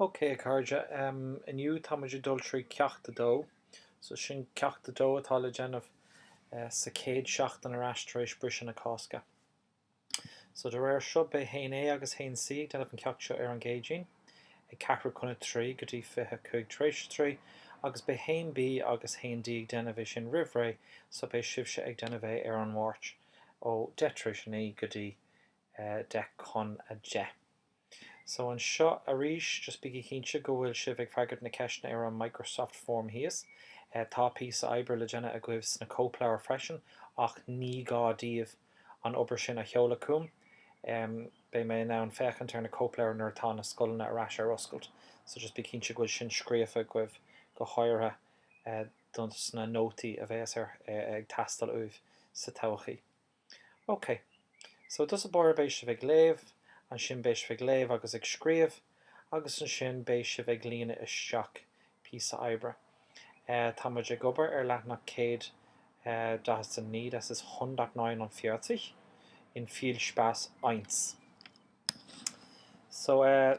Ok a chairde, inniu tá muid ag dul trí Ceacht 2. So sin Ceacht 2 atá le déanamh sa chéad seachtain ar ais tar éis briseadh na Cásca. So de réir seo beidh Haon A agus Haon C ag déanamh an ceacht seo ar an gCéadaoin ag ceathrú chun a trí go dtí fiche cúig tar éis a trí agus beidh Haon B agus Haon D ag déanamh é sin roimh ré so beidh sibhse ag déanamh é ar an Mháirt. ó deich tar éis a naoi go dtí deich chun a deich. So anseo arís, just bígí cinnte go bhfuil sibh ag freagairt na ceisteanna ar an Microsoft Form thíos. Tá píosa oibre le déanamh agaibh sna cóipleabhair freisin ach ní gá daoibh an obair sin a sheoladh chugam. Beidh mé in ann féachaint ar na cóipleabhair nuair atá na scoileanna ar ais ar oscailt. So just bí cinnte go bhfuil sin scríofa agaibh go háirithe. don sna nótaí a bhéas ag teastáil uaibh sa todhchaí. Ok. So, i dtús báire beidh sibh ag léamh, ansin beidh sibh ag léamh agus ag scríobh agus ansin beidh sibh ag líonadh isteach píosa oibre. Eh tá muid ag obair ar leathnach céad eh daichead a naoi das ist hundertneunundvierzig in Viel Spaß eins. So eh.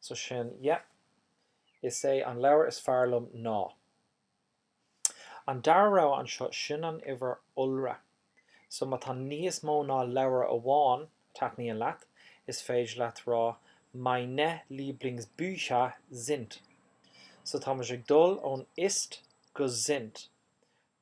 So sin, yeah. Is é an leabhar is fearr liom ná. An dara rogha anseo, sin an uimhir iolra. So má tá níos mó ná leabhar amháin a thaitníonn leat, is féidir leat rá Meine Lieblingsbücher sind. So tá muid ag dul ón ist go sind.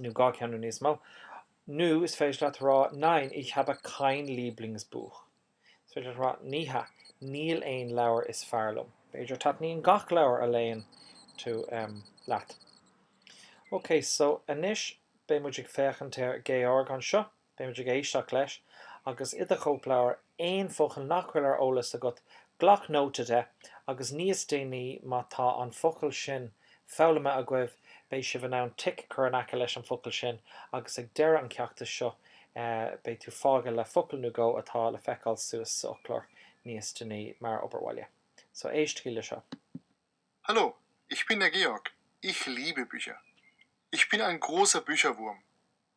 nó dhá cheann nó níos mó, nó is féidir leat a rá nein, ich habe kein Lieblingsbuch. Is féidir leat a rá ní hea, níl aon leabhar is fearr liom. B'fhéidir taitníonn gach leabhar a léann tú leat. Ok, so anois beidh muid ag féachaint ar Georg anseo. Beidh muid ag éisteacht leis, agus i do chóipleabhar, aon focal nach bhfuil ar eolas agat, glac nóta de, agus níos déanaí, má tá an focal sin foghlamtha agaibh, beidh sibh in ann tic a chur in aice leis an bhfocal sin, agus ag deireadh an cheachta seo, beidh tú fágtha le focal nó dhó atá le feiceáil suas sa fhoclóir níos déanaí mar obair bhaile. So, éistigí le seo. Hallo, ich bin der Georg. Ich liebe Bücher. Ich bin ein großer Bücherwurm.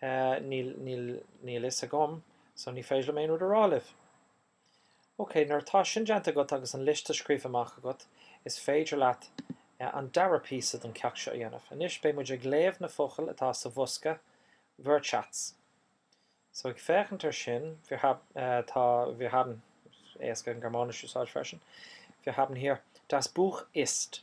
níl, níl, níl fhios agam so ní féidir liom aon rud a rá libh. Ok, nuair atá sin déanta agat agus an liosta scríofa amach agat, is féidir leat an dara píosa don cheacht seo a dhéanamh. Anois beidh muid ag léamh na focail atá sa bhosca Wortschatz. So ag féachaint ar sin, wir hab, tá, wir haben, is éasca an Ghearmáinis a úsáid freisin, wir haben hier, das Buch ist.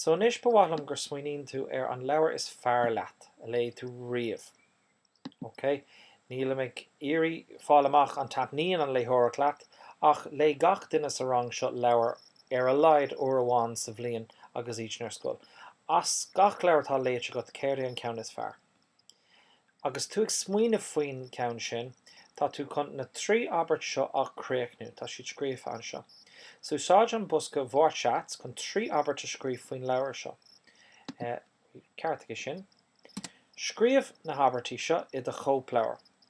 So anois ba mhaith liom gur smaoiníonn tú ar an leabhar is fearr leat, a léigh tú riamh. Ok, nílim ag iarraidh fáil amach an taitníonn an léitheoireacht leat, ach léigh gach duine sa rang seo leabhar ar a laghad uair amháin sa bhliain agus iadsan ar scoil. As gach leabhar atá léite agat, céard é an ceann is fearr? Agus tú ag smaoineamh faoin gceann sin, tá tú chun na trí abairt seo a chríochnú, tá siad scríofa anseo. So úsáid an bosca Wortschatz chun trí abairt a scríobh faoin leabhar seo. Ceartaigh sin. Scríobh na habairtí seo i do chóipleabhar.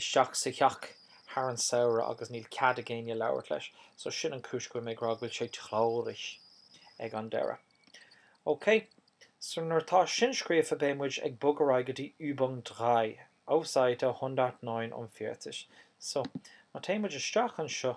isteach sa theach thar an samhradh agus níl cead ag éinne labhairt leis so sin an cúis go bhfuil mé ag rá go bhfuil sé traurig ag an deireadh. Ok. So nuair atá sin scríofa beidh muid ag bogadh ar aghaidh go dtí Übung drei, Auf Seite 149. So, má téann muid isteach anseo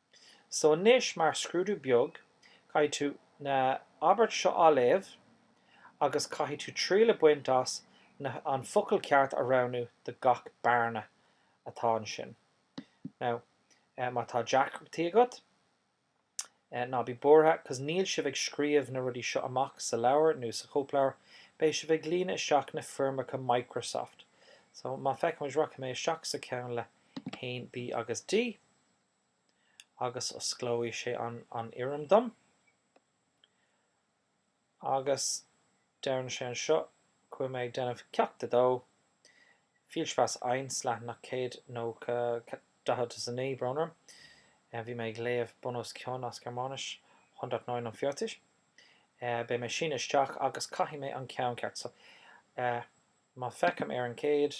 So anois mar scrúdú beag, caithfidh tú na abairt seo a léamh agus caithfidh tú triail a baint as na an focal ceart a roghnú do gach bearna atá ansin. Now, má tá deacrachtaí agat, ná bí buartha cause níl sibh ag scríobh na rudaí seo amach sa leabhar nó sa chóipleabhar, beidh sibh ag líonadh isteach na foirmeacha Microsoft. So má feicimid rachaidh mé isteach sa ceann le 1B agus D. agus osclóidh sé an an fhoirm dom agus deireann sé anseo go bhfuil mé ag déanamh Ceacht 2, Viel Spaß 1, leathanach 190, 49, brón orm, bhí mé ag léamh bun os cionn as Gearmáinis, 149, beidh mé síniú isteach agus caithfidh mé an ceann ceart so má feicim ar an gcéad,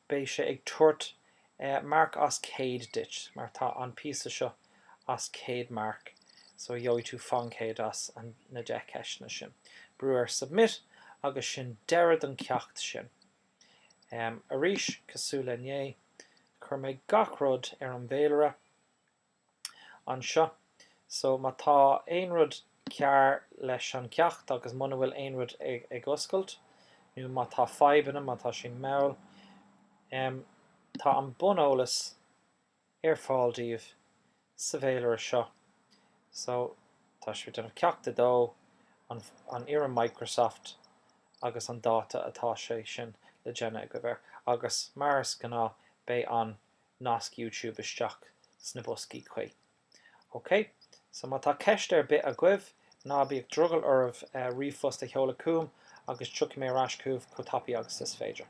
beidh sé ag tabhairt marc as 100 duit mar tá an píosa seo as 100 marc so gheobhaidh tú faoin 100 as na 10 ceisteanna sin. Brú ar Submit agus sin deireadh don ceacht sin. Arís, cosúil le inné, chuir mé gach rud ar an bhféilire anseo. So, má tá aon rud cearr leis an gceacht agus muna bhfuil aon rud ag oscailt, nó má tá fadhbanna, má tá sin mall, em, tá an buneolas ar fáil daoibh sa bhféilire seo. So, tá sibh ag déanamh Ceacht a Dó, an, an fhoirm Microsoft agus an dáta atá sé sin le déanamh agaibh air. Agus mar is gnáth, beidh an, nasc YouTube isteach sna boscaí cuí. OK? So má tá ceist ar bith agaibh, ná bíodh drogall oraibh ríomhphost a sheoladh chugam agus tiocfaidh mé ar ais chugaibh chomh tapaidh agus is féidir.